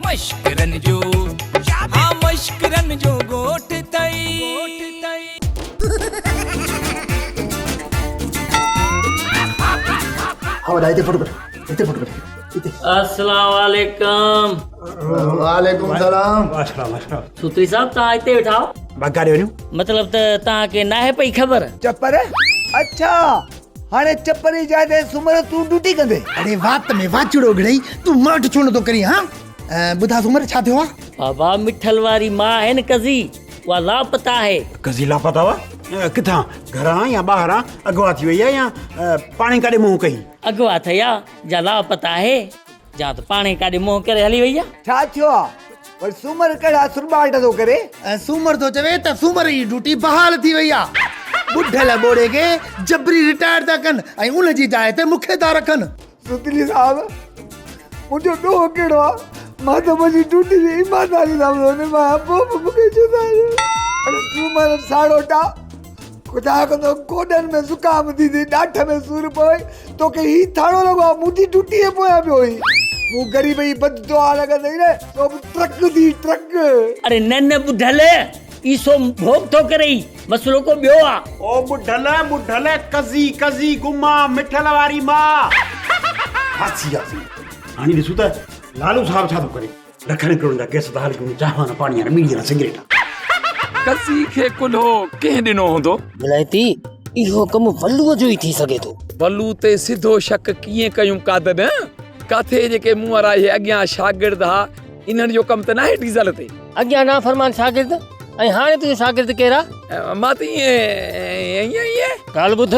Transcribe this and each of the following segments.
مشڪرن جو ها مشڪرن جو ڳوٺ تئي. السلام عليڪم وعليڪم سلام سوتري صاحب تان اتي ويٺا آهو مطلب ته تان کي ناهي پئي خبر. چپ ري اڇا. هاڻي چپ ري جاء تي سومر تون ڊوٽي ڪندي. اڙي وات ۾ واچڙو گھڙئي تون ماٺ ڇو نٿو ڪرين ها ٻڌا سومر ڇا ٿيو آ. بابا مٺل واري ماء آهي نه ڪزي اها لاپتا آهي. ڪزي لاپتا هو ڪٿان گھران يا ٻاهران اغوا ٿي وئي آ يا پاڻهي ڪاڏي منهن ڪئي. اغوا ٿئي آ جا لاپتا آهي. جا ته پاڻ ئي ڪاڏي منهن ڪري هلي وئي آ. ڇا ٿيو آ؟ ول سومر ڪهڙا سرٻاٽ ٿو ڪري؟ ۽ سومر ٿو چوي ته سومر جي ڊيوٽي بحال ٿي وئي آ. ٻڍل ٻوڙي کي جبري رٽائرڊ ٿا ڪن ۽ ان جي جاء تي مون کي ٿا رکن. سوتيلي صاحب، منهنجو ڏوهه ڪهڙو آ؟ مان ته منهنجي ڊيوٽي جي ايمانداري سان پيو نڀايان، پوء به مون کي ڇو ٿا رٽائرڊ ڪيو؟ اڙي سومر ساڙوٽا! خدا ڪندو گوڏن ۾ زڪام اٿي ٿئي ڏاڍ ۾ سور پوي توکي هي ٿاڙو لڳو آهي مون ٿي ٽٽي جي پويان پيو هي مون غريب جي بد دعا نه ڪندي نه تو به ٽرڪ ٿي ٽرڪ اري نه نه ٻڍل عيسو ڀوڳ ٿو ڪرئي مسئلو ڪو ٻيو آ. او ٻڍل ٻڍل ڪزي ڪزي گما مٺل واري مان. ڦاسي آسي هاڻي ڏسون ته لالو صاحب ڇا ٿو ڪري. ڏکڻ ڪرڻ جا ڪيس بحال ڪرڻ چانهه نه پاڻي نه ٻيڙي نه سگريٽ. ڪسي کي ڪلهو ڪنهن ڏنو هوندو؟ ولائتي، اهو ڪم ولوء جو ئي ٿي سگهي ٿو. ولوء تي سڌو شڪ ڪيئن ڪيون قادر؟ ڪاٿي جيڪي مون وارا اهي اڳيان شاگرد ها، انهن جو ڪم ته ناهي ڊيزل تي؟ اڳيان نافرمان شاگرد ۽ هاڻي تنهنجو شاگرد ڪيرا؟ مان ته ائين ائين ائين. ڳالهه ٻڌ،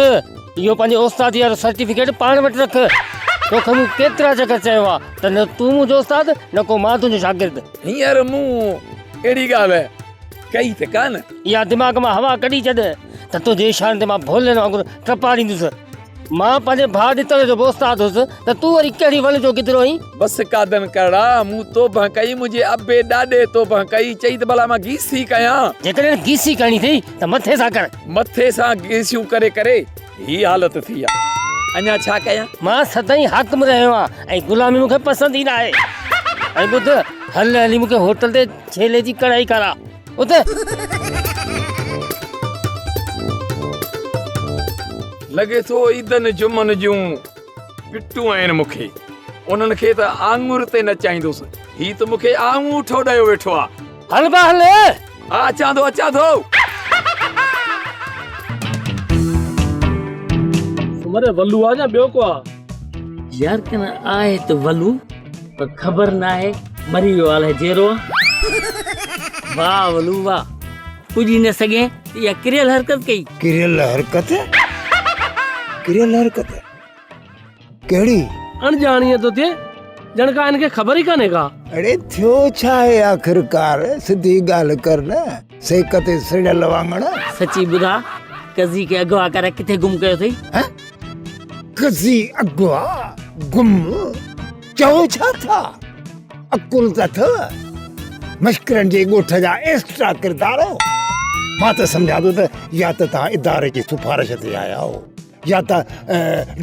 اهو پنهنجي اوستاديء وارو سرٽيفڪيٽ پاڻ وٽ رک. توکي مون ڪيترا چڪر چيو آهي ته نه تون منهنجو استاد نه ڪو مان تنهنجو شاگرد. هينئر مون اهڙي ڳالهه ڪئي ته ڪا نه. اها دماغ مان هوا ڪڍي ڇڏ ته تنهنجي اشارن تي مان ڀولين وانگر ٽپاڙيندس. مان پنهنجي ڀاء ڏتل جو به استاد هوس ته تون وري ڪهڙي ول جو گدڙو آهين؟ بس قادن ڪرڙا، مون توبهه ڪئي، منهنجي ابي ڏاڏي توبهه ڪئي، چئي ته ڀلا مان گيسي ڪيان. جيڪڏهن گيسي ڪرڻي اٿئي ته مٿي سان ڪر. مٿي سان گيسيون ڪري ڪري هي حالت ٿي آ اڃا ڇا ڪيان. مان سدائين حاڪم رهيو آهيان ۽ غلامي مون کي پسند ئي ناهي. ۽ ٻڌ، هل هلي مون کي هوٽل تي ڇيلي جي ڪڙهائي کاراء. اٿ! لڳي ٿو عيدن جمعن جون پٽون آهن مون کي. انهن کي ته آڱر تي نچائيندس. هي ته مون کي آڱوٺو ڏيو ويٺو آ. هل با هل. ها اچان ٿو اچان ٿو. سومري ولو آ يا ٻيو ڪو آ. يار ڪن آهي ته ولو پر خبر ناهي مري ويو آ الائي جيرو آ. واه ولو واه پڄي نه سگهين ته اها ڪريل حرڪت ڪئي. ڪريل حرڪت ڪريل حرڪت. ڪهڙي؟ اڻڄاڻيء ٿو ٿئي، ڄڻ ڪا هن کي خبر ئي ڪانهي ڪا. اڙي ٿيو ڇا آهي آخرڪار، سڌي ڳالهه ڪر نه، سيڪ تي سڙيل واڱڻ. سچي ٻڌاء، قضي کي اغوا ڪرائي ڪٿي گم ڪيو اٿئي؟ ها؟ قضي اغوا؟ گم؟ چئو ڇا ٿا؟ عقل ته اٿئو؟ مشڪرن جي ڳوٺ جا ايڪسٽرا ڪردار آهيو. مان ته سمجهان ٿو ته يا ته توهان اداري جي سفارش تي آيا آهيو. يا ته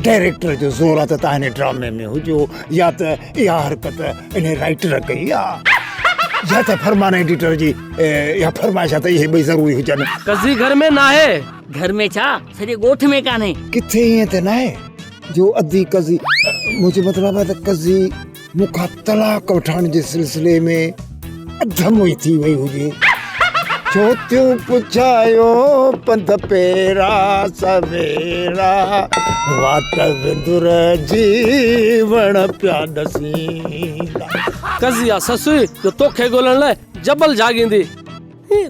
ڊائريڪٽر جو زور آ ته تان هن ڊرامي ۾ هجو يا ته اها حرڪت انهي رائيٽر ڪئي آ يا ته فرمان ايڊيٽر جي اها فرمائش آ ته اهي ٻئي ضروري هجن. ڪزي گهر ۾ ناهي. گهر ۾ ڇا سڄي ڳوٺ ۾ ڪانهي. ڪٿي ائين ته ناهي جو ادي ڪزي منهنجو مطلب آ ته ڪزي. مون کان طلاق وٺڻ جي سلسلي ۾ اڌ موئي ٿي وئي هجي ڇو ٿيون پڇايو پنڌ پيرا سويرا واٽ وندر جي وڻ پيا ڏسيندا ڪزي آ سسوي جو توکي ڳولڻ لاء جبل جاڳيندي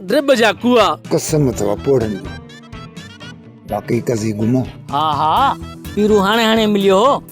درب جا ڪوئا قسم اٿو پوڙهن جي باقي ڪزي گمو ها ها پيرو هاڻي هاڻي مليو هو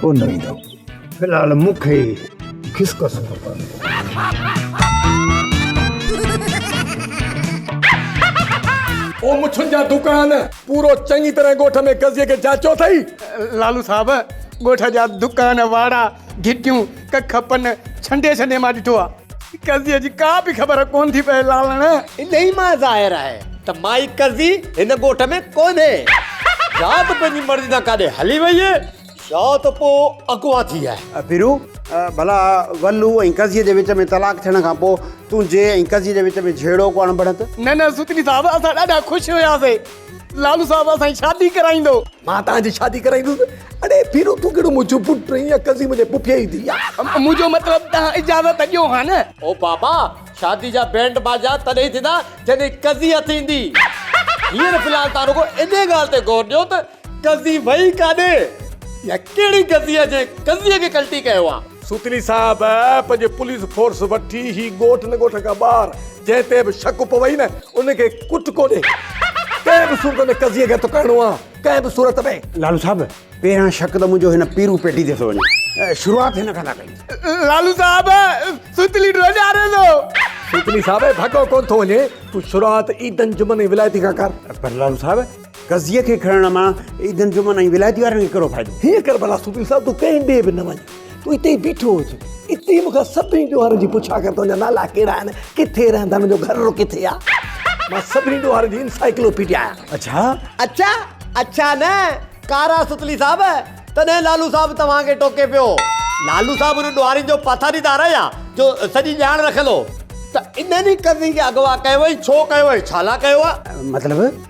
ڪو نه ويندو. في الحال مون کي خسڪسو نه پوندو. او مڇن جا دڪان! پورو چڱي طرح ڳوٺ ۾ قضيي کي جاچيو اٿئي؟ لالو صاحب، ڳوٺ جا دڪان، واڙا، گهٽيون، ڪک، پن ڇنڊي ڇنڊي مان ڏٺو آ. قرضيء جي ڪا به خبر ڪونه ٿي پئي لالڻ. انهيء مان ظاهر آهي ته مائي قرضي هن ڳوٺ ۾ ڪونهي. يا ته پنهنجي مرضي سان ڪاڏي هلي وئي آهي يا ته پوء اغوا ٿي آهي. پيرو، ڀلا ولو ۽ قرضيء جي وچ ۾ طلاق ٿيڻ کان پوء تون جي ۽ قرضيء جي وچ ۾ جهيڙو ڪو اڻبڻت؟ نه نه سوتلي صاحب، اسان ڏاڍا خوش هياسين. لالو صاحب اسان جي شادي ڪرائيندو. مان توهان جي شادي ڪرائيندس. اڙي ڀيرو تون ڪهڙو منهنجو پٽ آهين يا قضي منهنجي پڦيء جي ڌيء آهي. منهنجو مطلب توهان اجازت ڏيو ها نه. او بابا شادي جا بينڊ باجا تڏهن ئي ٿيندا جڏهن قضي هٿ ايندي. هينئر في الحال توهان رڳو انهيء ڳالهه تي غور ڏيو ته قضي وئي ڪاڏي يا ڪهڙي قضيء جي قضيء کي ڪلٽي ڪيو آهي. سوتيلي صاحب پنهنجي پوليس فورس وٺي هي ڳوٺ نه ڳوٺ کان ٻاهر جنهن تي به شڪ پوي نه ان کي ڪٽڪو ڏي ڪنهن به صورت ۾ قضيي کي تڪائڻو آ ڪنهن به صورت ۾. لالو صاحب پهريان شڪ ته منهنجو هن پيرو پيٽي تي ٿو وڃي شروعات هن کان ٿا ڪيون. لالو صاحب سوتيلي ڏي ڏياري ٿو. سوتيلي صاحب ڀڳو ڪونه ٿو وڃي تون شروعات عيدن جمعن ۽ ولايتي کان ڪر. پر لالو صاحب قضيي کي کڻڻ مان عيد انجمن ۽ ولايتي وارن کي ڪهڙو فائدو؟ هيء ڪربلا صوفي صاحب تون ڪنهن ڏي به نه وڃ. تون اتي ئي بيٺو هج. اتي ئي مون کان سڀني ڏوهارن جي پڇا ڪر تنهنجا نالا ڪهڙا آهن، ڪٿي رهن ٿا، انهن جو گهرڙو ڪٿي آهي. مان سڀني ڏوهارن جي انسائيڪلوپيڊيا آهيان. اڇا؟ اڇا؟ اڇا نه ڪارا ستلي صاحب تڏهن لالو صاحب توهان کي ٽوڪي پيو. لالو صاحب انهن ڏوهارين جو پاسداريدار آهي ها جو سڄي ڄاڻ رکندو هو. ته انهن ئي قضيي کي اغوا ڪيو ۽ ڇو ڪيو ۽ ڇالاء ڪيو آهي؟ مطلب؟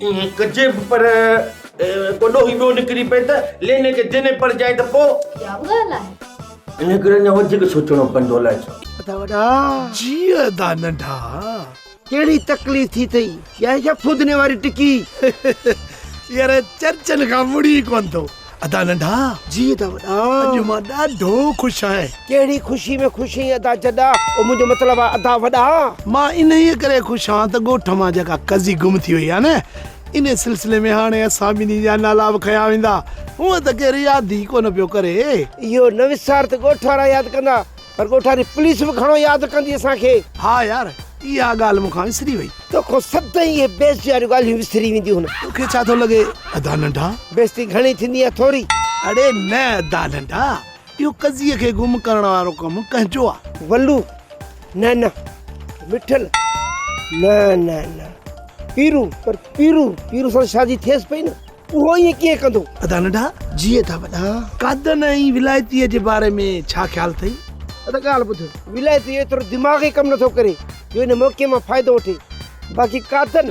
ائين ڪجي به پر ڪو ڏوهي ٻيو نڪري پئي ته ليني کي ديني پڙجائين ته پوء اها به ڳالهه آهي ان ڪري اڃا وڌيڪ سوچڻو پوندو الائي ڇو ادا وڏا جي ادا ننڍا ڪهڙي تڪليف ٿي اٿئي ڄائين ڇا فودني واري ٽڪي يار چرچن کان مڙي ئي ڪونه ٿو ادا ننڍا جي ادا وڏا اڄ مان ڏاڍو خوش آهي. ڪهڙي خوشي ۾ خوش اهين ادا جڏا او منهنجو مطلب آهي ادا وڏا. مان انهيء ڪري خوش آهان ته ڳوٺ مان جيڪا قضي گم ٿي وئي آهي نه انهيء سلسلي ۾ هاڻي اسان ٻنهي جا نالا به کنيا ويندا هونء ته ڪير ياد ئي ڪونه پيو ڪري. اهو نه وسار ته ڳوٺ وارا ياد ڪندا پر ڳوٺاري پوليس به گهڻو ياد ڪندي اسان کي. ها يار اها ڳالهه مون کان وسري وئي. توکان سدائين اهي بيعزتي واريون ڳالهيون وسري وينديون هن. توکي ڇا ٿو لڳي ادا ننڍا؟ بيعزتي گهڻي ٿيندي يا ٿوري؟ اڙي نه ادا ننڍا اهو قضيي کي گم ڪرڻ وارو ڪم ڪنهن جو آ؟ ولو، نه نه. مٺل، نه نه نه. پيرو، پر پيرو پيرو سان شادي ٿيس پئي نه. اهو ائين ڪيئن ڪندو؟ ادا ننڍا جيء ٿا وڏا. قادن ۽ ولايتيء جي باري ۾ ڇا خيال اٿئي؟ ادا ڳالهه ٻڌ. ولايتي ايترو دماغ ئي ڪم نٿو ڪري جو ان موقعي مان فائدو وٺي. باقي قادن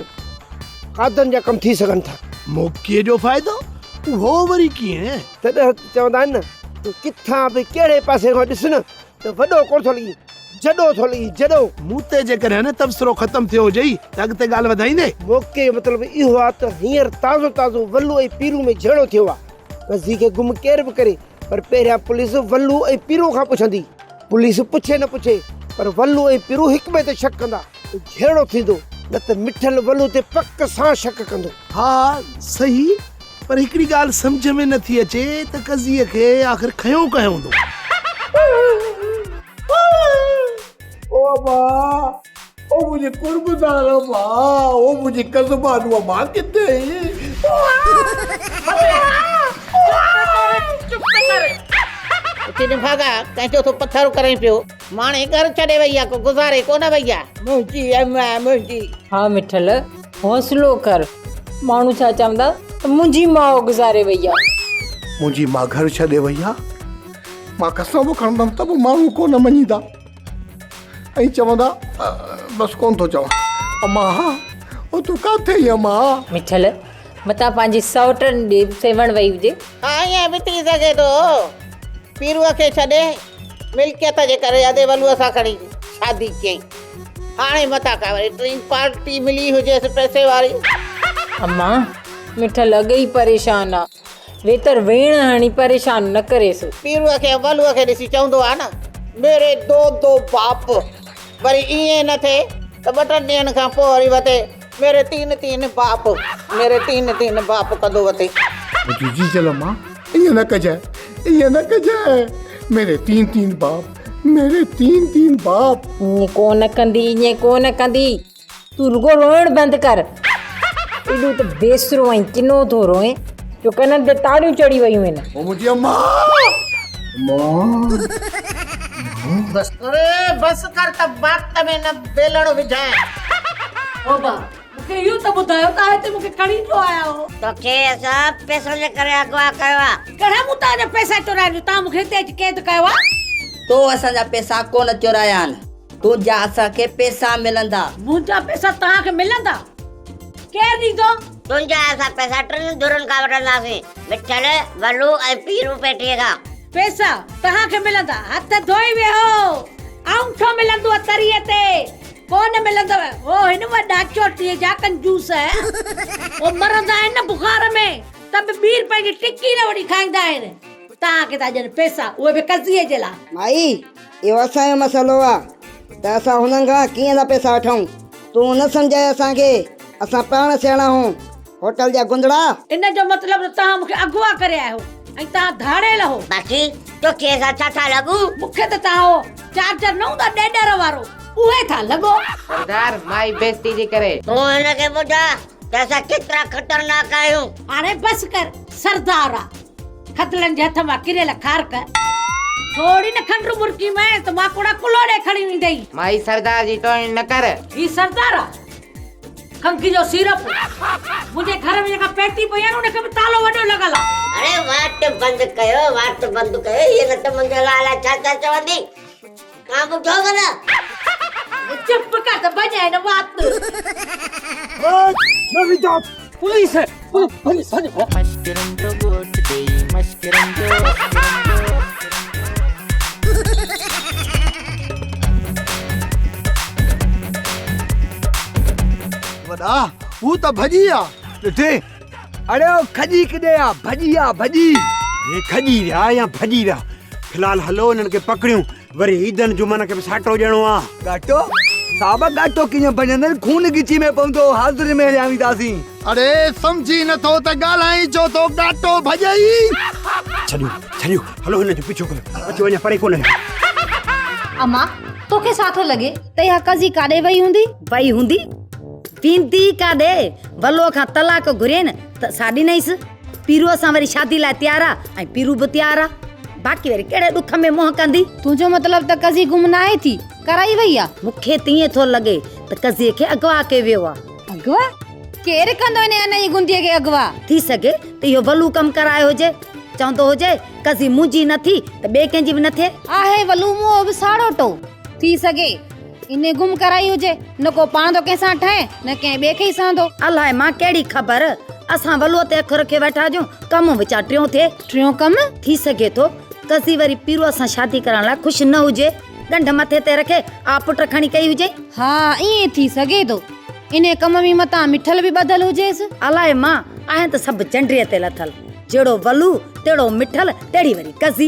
قادن جا ڪم ٿي سگهن ٿا. موقعي جو فائدو؟ اهو وري ڪيئن؟ تڏهن چوندا آهن نه ته ڪٿان به ڪهڙي پاسي کان ڏس نه ته وڏو ڪونه ٿو لڳين. جڏو ٿو لڳين جڏو. مون تي جيڪڏهن هن تبصرو ختم ٿيو هجئي ته اڳتي ڳالهه وڌائيندي؟ موقعي جو مطلب اهو آ ته هينئر تازو تازو ولو ۽ پيرو ۾ جهيڙو ٿيو آ. مزي کي گم ڪير به ڪري پر پهريان پوليس ولو ۽ پيرو کان پڇندي. پوليس پڇي نه پڇي پر ولو ۽ پيرو هڪٻئي تي شڪ ڪندا. ته جهيڙو ٿيندو، نه ته مٺل ولو تي پڪ سان شڪ ڪندو. ها سهي، پر هڪڙي ڳالهه سمجهه ۾ نٿي اچي ته قضيي کي آخر کنيو ڪنهن هوندو؟ او ابا، او منهنجي قربدار ابا، او منهنجي قضبان ابا ڪٿي آهي؟ ماڻي ڳر ڇڏي وئي آ، ڪو گذاري ڪونه وئي آ. منهنجي اي مئي منهنجي. ها مٺل حوصلو ڪر. ماڻهو ڇا چوندا ته منهنجي ماء گذاري وئي آ. منهنجي ماء گهر ڇڏي وئي آ. مان قسم به کڻندم ته به ماڻهو ڪونه مڃيندا ۽ چوندا بس ڪونه ٿو چوان. امان ها، هو تون ڪاٿي آهين امان ها. مٺل متان پنهنجي سئوٽن ڏي سيوهڻ وئي هجي. ها ائين به ٿي سگهي ٿو پيروء کي ڇڏي ملڪيت جي ڪري ادي ولوء سان کڻي شادي ڪيائين. هاڻي متان ڪا وري ٽين پارٽي ملي هجيس پئسي واري. اما مٺل اڳ ئي پريشان آ ويتر ويڻ هڻي پريشان نه ڪريس. پيروء کي ۽ ولوء کي ڏسي چوندو آ نه ميري دو دو باپ وري ائين نه ٿئي ته ٻه ٽن ڏينهن کان پوء وري وتي ميري تين تين باپ ميري تين تين باپ ڪندو وتي. منهنجي جيجل امان ائين نه ڪجانء ائين نه ڪجانء ميري تين تين باپ ميري تين تين باپ. ائين ڪونه ڪندي ائين ڪونه ڪندي تون رڳو روئڻ بند ڪر ايڏو ته بيسرو ۽ ڪنو ٿو روئين جو ڪنن تي تاريون چڙهي ويون آهن. او منهنجي امان امان. بس ڪر بس ڪر ته وات ۾ نه ويلڻ وجهانء. بابا مون کي اهو ته ٻڌايو ته هتي مون کي کڻي ڇو آيا آهيو؟ توکي اسان پئسن جي ڪري اغوا ڪيو آهي. ڪهڙا مون توهان جا پئسا چورايا جو توهان مون کي هتي اچي قيد ڪيو آهي؟ تو اسان جا پئسا ڪونه چورايا آهن. تنهنجا اسان کي پئسا ملندا. منهنجا پئسا توهان کي ملندا؟ ڪير ڏيندو؟ تنهنجا اسان پئسا ٽن ڌرين کان وٺنداسين، مٺل، ولو ۽ پيرو پيٽي کان. پئسا توهان کي ملندا. هٿ ڌوئي ويهو. آئون ڇو ملندو آ تريء تي. ڪو نه ملندو هو هن وٽ ڏاچو ٽي جا ڪنجوس هو مرندا آهن نه بخار ۾ ته به ٻير پنهنجي ٽڪي نه وٺي کائيندا آهن توهان کي ٿا ڏين پئسا اهي به قضيي جي لاء. مائي اهو اسان جو مسئلو آ ته اسان هنن کان ڪيئن ٿا پئسا وٺون تون نه سمجهاء اسان کي اسان پاڻ سياڻا هون. هوٽل جا گندڙا. ان جو مطلب ته توهان مون کي اغوا ڪري آيا هو ۽ توهان ڌاڙيل هو. باقي توکي اسان ڇا ٿا لڳون؟ مون کي ته توهان اهو چارجر نه هوندا ڏيڏر وارو اهي ٿا لڳو. سردار مائي بيستي جي ڪري. تون هن کي ٻڌاء ته اسان ڪيترا خطرناڪ آهيون. هاڻي بس ڪر سردار آ. خدلن جي هٿ مان ڪريل کارڪ. ٿورڙي نه کنڊ مرڪي مئين ته ماڪوڙا ڪلهوڙي کڻي ويندئي. مائي سردار جي توهين نه ڪر. هي سردار آ. کنگهه جو سيرپ منهنجي گهر ۾ جيڪا پيٽي پئي آهي نه ان کي به تالو وڏو لڳل آهي. اڙي واٽ بند ڪيو واٽ بند ڪيو هيء نه ته منهنجي لاء الائي ڇا ڇا چوندي ڪا ٻڌو به نه. چپ ڪر ته ڀڄ هن وات. پوليس وڏا هو ته ڀڄي ويا ڏٺي اڙي هو کڄي ڪڏي آ ڀڄي آ ڀڄي هي کڄي ويا يا ڀڄي ويا فلحال هلو هنن کي پڪڙيون وري عيدن جمعن کي به ساٽو ڏيڻو آ. گاٽو؟ صاحب گاٽو ڪيئن بنجندين خون ڳچي ۾ پوندو حاضري ۾ هليا وينداسين. اڙي سمجهي نٿو ته ڳالهائين ڇو ٿو گاٽو ڀڄئي. ڇڏيو ڇڏيو هلو هن جو پيڇو ڪريون اچو اڃا پري ڪونه ويا. اما توکي سا ٿو لڳي ته اها قضي ڪاڏي وئي هوندي؟ وئي هوندي؟ ويندي ڪاڏي؟ ولوء کان طلاق گهرين ته سا ڏنئيس. پيروء سان وري شادي لاء تيار آ ۽ پيرو به تيار آ. باقي وري ڪهڙي ڏک ۾ منهن ڪندي؟ تنهنجو مطلب ته قضي گم ناهي ٿي، ڪرائي وئي آ؟ مون کي ته ائين ٿو لڳي ته قضي کي اغوا ڪيو ويو آ. اغوا؟ ڪير ڪندو انهيء انئي گنديء کي اغوا؟ ٿي سگهي ته اهو ولو ڪم ڪرائي هجي. چوندو هجي قضي منهنجي نه ٿي ته ٻئي ڪنهن جي به نه ٿئي. آهي ولو مون اهو به ساڙوٽو. ٿي سگهي. انهي گم ڪرائي هجي، نه ڪو پاڻ ٿو ڪنهن سان ٺهي، نه ڪنهن ٻئي کي ئي سهندو. الاء مان ڪهڙي خبر، اسان ولوء تي اک رکي ويٺا هجون، ڪم وچان ٽيون ٿئي. ٽيون ڪم؟ ٿي سگهي ٿو، قضي وري پيروء سان شادي ڪرائڻ لاء خوش نه هجي، ڳنڍ مٿي تي رکي، آء پٽ کڻي ڪئي هجئي. ها، ائين ئي ٿي سگهي ٿو. انهي ڪم ۾ متان مٺل به ٻڌل هجيس. الاء مان، آهن ته سڀ جنڊيء تي لٿل. جهڙو ولوء، تهڙو مٺل، تهڙي وري قضي.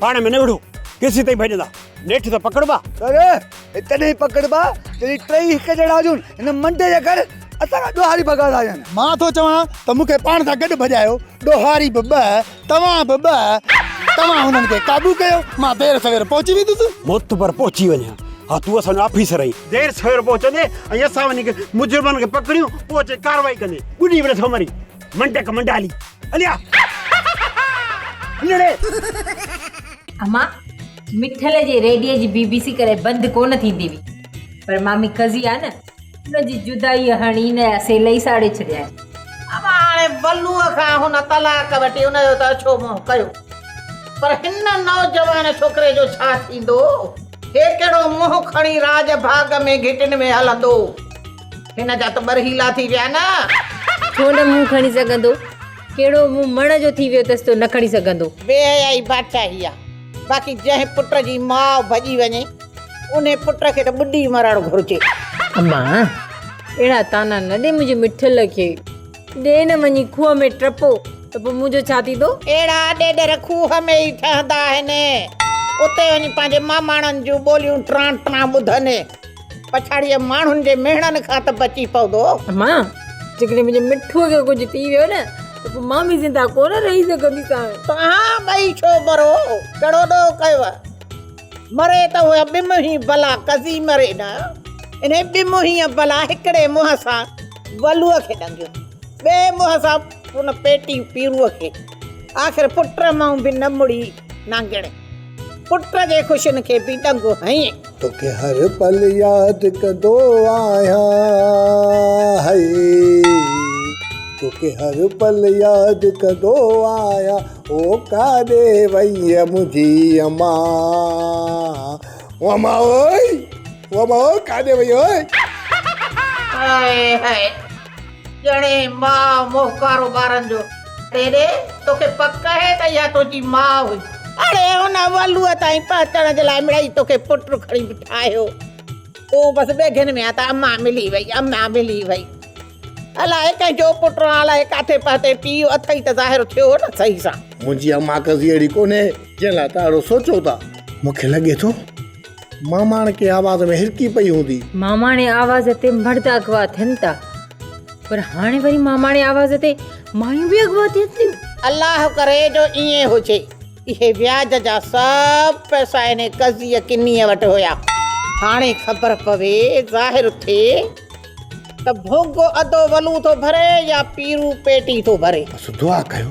پاڻ ۾ نه وڙهو، ڪيسيتائين ڀڄندا؟ نيٺ ته پڪڙبا. سر، هي تڏهن پڪڙبا جڏهن ٽيئي هڪ جهڙا هجون. هن منڊي جا گهر اسان کان ڏوهاري ڀڳا ٿا هجن. مان ٿو چوان ته مون کي پاڻ سان گڏ ڀڄايو، ڏوهاري به ٻه، توهان به ٻه. توهان هنن کي قابو ڪيو، مان دير سوير پهچي ويندس. معتبر پهچي وڃ ها. ها تون اسان جو آفيسر آهين. دير سوير پهچندين ۽ اسان وڃي مجرمن کي پڪڙيون، پوء اچي ڪارروائي ڪندين. ٻڏي به نٿو مرين. منڊڪ منڊالي اليا نڙي اما مٺل جي ريڊيو جي بي بي سي ڪري بند ڪون ٿيندي وي پر مامي قضي آ نه ان جي جدائي هڻي نه اسي لئي ساڙي ڇڏيا اما هاڻي بلو کان هن طلاق وٺي ان جو ته اڇو منهن ڪيو پر هن نوجوان ڇوڪري جو ڇا ٿيندو هي ڪهڙو منهن کڻي راڄ ڀاڳ ۾ گهٽين ۾ هلندو هن جا ته ٻر هيلا ٿي ويا نه. ڇو نه مون کڻي سگهندو. ڪهڙو مون مڻ جو ٿي ويو اٿس تو نه کڻي سگهندو. بي حيائي بادشاهي آ. باقي جنهن پٽ جي ماء ڀڄي وڃي انهي پٽ کي ته ٻڏي مرڻ گهرجي. اما اهڙا طعنا نه ڏي منهنجي مٺل کي. ڏي نه وڃي کوهه ۾ ٽپو ته پوء منهنجو ڇا ٿيندو. اهڙا ڏيڏر کوهه ۾ ئي ٺهندا آهن. اتي وڃي پنهنجي ماماڻن جون ٻوليون ٽران ٽران ٻڌن. پڇاڙيء ماڻهن جي مهڻن کان ته بچي پوندو. مان، جيڪڏهن منهنجي مٺوء کي ڪجهه ٿي ويو نه ته پوء مان به زنده ڪونه رهي سگهنديسانء. توهان ٻئي ڇو مرو؟ ڪهڙو ڏوهه ڪيو اهي؟ مري ته اها ٻمهي بلا ڪزي مري نه. انهيء ٻمهيء بلا هڪڙي منهن سان ولوء کي ڏنگيو، ٻئي منهن سان ان پيٽي پيرو کي. آخر پٽ مئو به نه مڙي نانگڻي. پٽ جي خوشين کي به ڏنگو هنئين. توکي هر پل ياد ڪندو آهيان هئي. توکي هر پل ياد ڪندو آهيان او ڪاڏي وئي منهنجي اما او اما او اما او ڪاڏي وئي. هاء هاء. ڄڻي ماء موهه ڪارو ٻارن جو. ڏيڏي، توکي پڪ اهي ته اها تنهنجي ماء هئي. اڙي هن ولوء تائين پهچڻ جي لاء مڙئي توکي پٽ کڻي به ٺاهيو. تون بس ٻيگهن ۾ آهين ته امان ملي وئي، امان ملي وئي. الاء ڪنهن جو پٽ آن الاء ڪاٿي پهتين، پيء اٿئي ته ظاهر ٿيو نه صحيح سان. منهنجي امان ڪزي اهڙي ڪونهي، جنهن لاء توهان اهڙو سوچو ٿا. مون کي لڳي ٿو ماماڻڪي آواز ۾ هرڪي پئي هوندي. ماماڻي آواز تي مرد اغوا ٿين ٿا پر هاڻي وري ماماڻي آواز تي مايون به اغوا ٿين ٿيون. الله ڪري جو ائين هجي. اهي وياج جا سڀ پئسا ان قضيء ڪنيء وٽ هيا. هاڻي خبر پوي، ظاهر ٿئي ته ڀوڳو ادو ولو ٿو ڀري يا پيرو پيٽي ٿو ڀري. بس دعا ڪيو.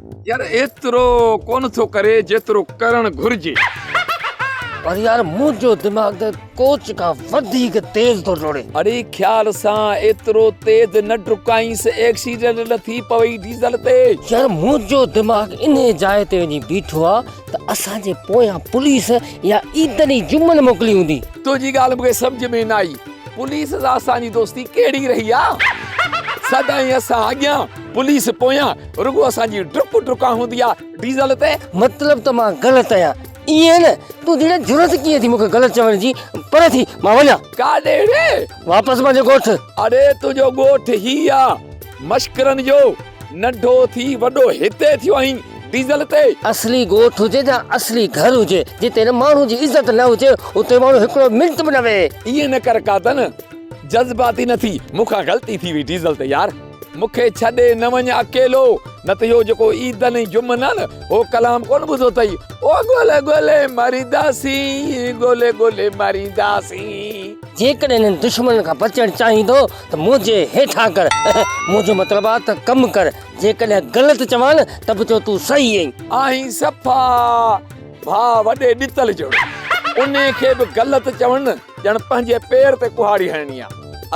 يار ايترو ڪونه ٿو ڪري جيترو ڪرڻ گهرجي. پر يار منهنجو دماغ ته ڪوچ کان وڌيڪ تيز ٿو ڊوڙي. اڙي خيال سان ايترو تيز نه ڊڪائينس ايڪسيڊنٽ نه ٿي پوي ڊيزل تي. يار منهنجو دماغ انهي جاء تي وڃي بيٺو آ ته اسان جي پويان پوليس يا عيدن ئي جمن موڪلي هوندي. تنهنجي ڳالهه مون کي سمجهه ۾ نه آئي پوليس سان اسان جي دوستي ڪهڙي رهي آ. سدائين اسان اڳيان پوليس پويان. رڳو اسان جي ڊپ ڊڪا هوندي آ ڊيزل تي. مطلب ته مان غلط آهيان ائين نه؟ تون جيڙي جرئت ڪيئن ٿي مون کي غلط چوڻ جي؟ پري ٿي مان وڃان. ڪاڏي وي؟ واپس منهنجي ڳوٺ. اڙي تنهنجو ڳوٺ هي آ مشڪرن جو. ننڍو ٿي وڏو هتي ٿيو آهين ڊيزل تي. اصلي ڳوٺ هجي جا اصلي گهر هجي جتي نه ماڻهو جي عزت نه هجي اتي ماڻهو هڪڙو منٽ به نه ويهي. ائين نه ڪر ڪاتن جذباتي نه ٿي مون کان غلطي ٿي وئي ڊيزل تي يار. مون کي ڇڏي نه وڃ اڪيلو. نه ته اهو جيڪو عيدن ۽ جمعن آهي نه، اهو ڪلام ڪونه ٻڌو اٿئي. او ڳولي ڳولي مرينداسين، ڳولي ڳولي مرينداسين. جيڪڏهن انهن دشمنن کان بچڻ چاهين ٿو ته منهنجي هيٺان ڪر. منهنجو مطلب آهي ته ڪم ڪر. جيڪڏهن غلط چوان نه ته به چو تون صحيح آهين. آهين صفا ڀاء وڏي ڏتل جهڙو. انهي کي به غلط چوڻ نه. ڄڻ پنهنجي پير تي ڪهاڙي هڻڻي آ.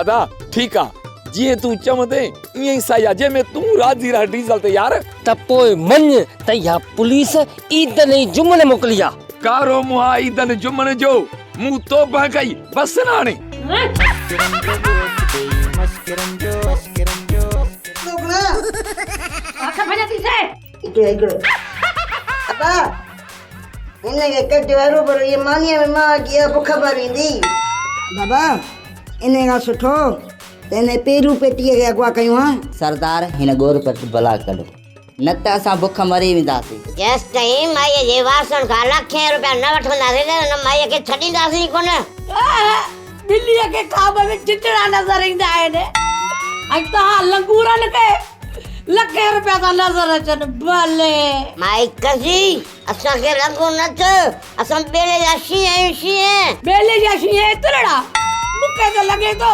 ادا ٺيڪ آ جيئن تون چوندين ايئن ئي سهي آ جنهن ۾ تون راضي رهه ڊيزل تي يار. ته پوء مڃ ته اها پوليس عيدن ۽ جمن موڪلي آ. ڪارو منهن عيدن جمن جو مون توبه ڪئي بس ناڻي. اتي هڪڙو ابا هن کي ڪجو هرو ڀرو هي مانيء ۾ ماء جي اڀ خبر ايندي بابا ان کان سٺو ته هن پيرو پيٽيء کي اغوا ڪيون ها سردار هن ڳور پٽ بلا ڪڍو نه ته اسان بک مري وينداسين جيستائين مائيء جي وارثن کان لکين روپيا نه وٺنداسين ته هن مائيء کي ڇڏينداسين ئي ڪونه ٻليء کي خواب ۾ چچڙا نظر ايندا آهن ۽ توهان لنگورن کي لکين روپيا ٿا نظر اچن بلي. مائي ڪسي اسان کي لنگور نه چئو اسان ٻيلي جا شينهن آهيون شينهن. ٻيلي جا شينهن ايترڙا مون کي ته لڳي ٿو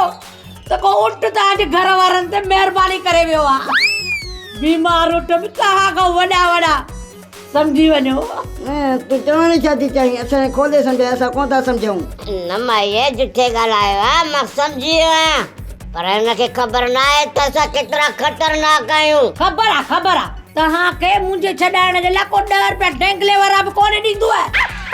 ته ڪو اٺ ته اڄ گهر وارن تي مهرباني ڪري ويو آهي بيمار اٺ به توهان کان وڏا وڏا. سمجهي وڃو. تون چوڻ ڇا ٿي چاهين؟ اٿڻي کولي سمجهاء، اسان ڪونه ٿا سمجهون. نه مائيء، جٺي ڳالهايو ها، مان سمجهي ويو آهيان، پر هن کي خبر ناهي ته اسان ڪيترا خطرناڪ آهيون. خبر آهي، خبر آهي. توهان کي منهنجي ڇڏائڻ جي لاء ڪو ڏهه روپيا ڊينگلي وارا به ڪونه ڏيندو.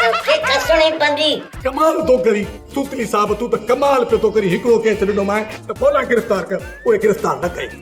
توکي کسڻي پوندي. ڪمال ٿو ڪرين سوتلي صاحب، تون ته ڪمال پيو ٿو ڪرين، هڪڙو ڪيس ڏنومانء ته ڦولا گرفتار ڪر، اهي گرفتار نه ڪيائين.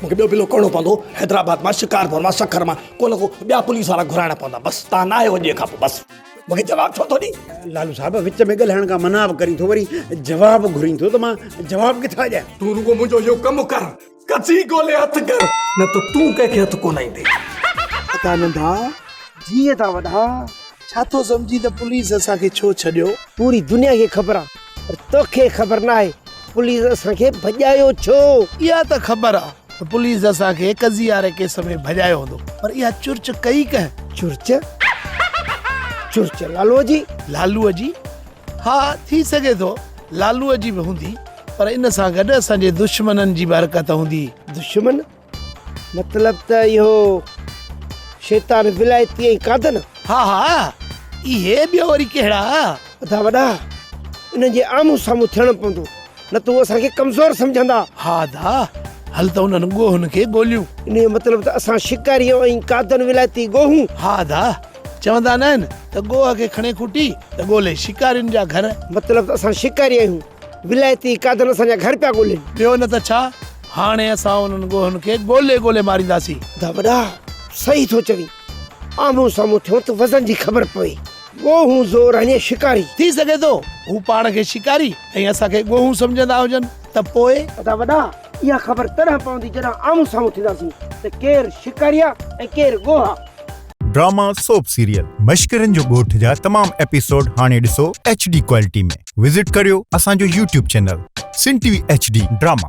مون کي ٻيو پلو ڪرڻو پوندو حيدرآباد مان شڪارپور مان سکر مان ڪو نه ڪو ٻيا پوليس وارا گهرائڻا پوندا بس تان نه آهيو اڄ کان پو بس مون کي جواب ڇو ٿو ڏي. لالو صاحب وچ ۾ ڳلهائڻ کان منع به ڪرين ٿو وري جواب گهرين ٿو ته مان جواب ڪٿان ڏيان. تون رڳو منهنجو اهو ڪم ڪر ڪچي گولي هٿ ڪر نه ته تون ڪنهن کي هٿ ڪو نائيندي. ادا ننڍا جيئن ادا وڏا ڇا ٿو سمجهين ته پوليس اسان کي ڇو ڇڏيو. پوري دنيا کي خبر آ پر توکي خبر ناهي پوليس اسان کي ڀڄايو ڇو؟ اها ته خبر آ ته پوليس اسان کي قضيي واري ڪيس ۾ ڀڄايو هوندو پر اها چرچ ڪئي ڪنهن؟ چرچ؟ چرچ لالوء جي؟ لالوء جي؟ ها ٿي سگهي ٿو لالوء جي به هوندي پر ان سان گڏ اسان جي دشمنن جي به حرڪت هوندي. دشمن؟ مطلب ته اهو شيطان ولايتي ۽ قادن. ها ها اهي ٻيو وري ڪهڙا. ادا وڏا انهن جي آمهون سامهون ٿيڻ پوندو نه ته هو اسان کي ڪمزور سمجهندا. ها ادا هل ته انهن ڳوهن کي ڳوليون. ان جو مطلب ته اسان شڪاري ۽ قادن ولايتي ڳوهون. ها ادا چوندا ناهن ته ڳوهه کي کڻي کوٽي ته ڳولي شڪارين جا گهر. مطلب ته اسان شڪاري آهيون. ولائتي قادن اسان جا گهر پيا ڳولين. ٻيو نه ته ڇا، هاڻي اسان انهن ڳوهن کي ڳولي ڳولي مارينداسين. دا وڏا، صحيح ٿو چوين. آمهون سامهون ٿيون ته وزن جي خبر پوي. ڳوهون زور هڻي شڪاري. ٿي سگهي ٿو، هو پاڻ کي شڪاري ۽ اسان کي ڳوهون سمجهندا هجن ته پوء؟ ادا وڏا، اها خبر تڏهن پوندي جڏهن آمهون سامهون ٿينداسين ته ڪير شڪاري آ ۽ ڪير ڳوها. ڊراما سوپ سيريل مشڪرين جو ڳوٺ جا تمام ايپيسوڊ هاڻي ڏسو ايڇ ڊي ڪوالٽي ۾ وزٽ ڪريو اسان جو YouTube channel Sindh T V H D drama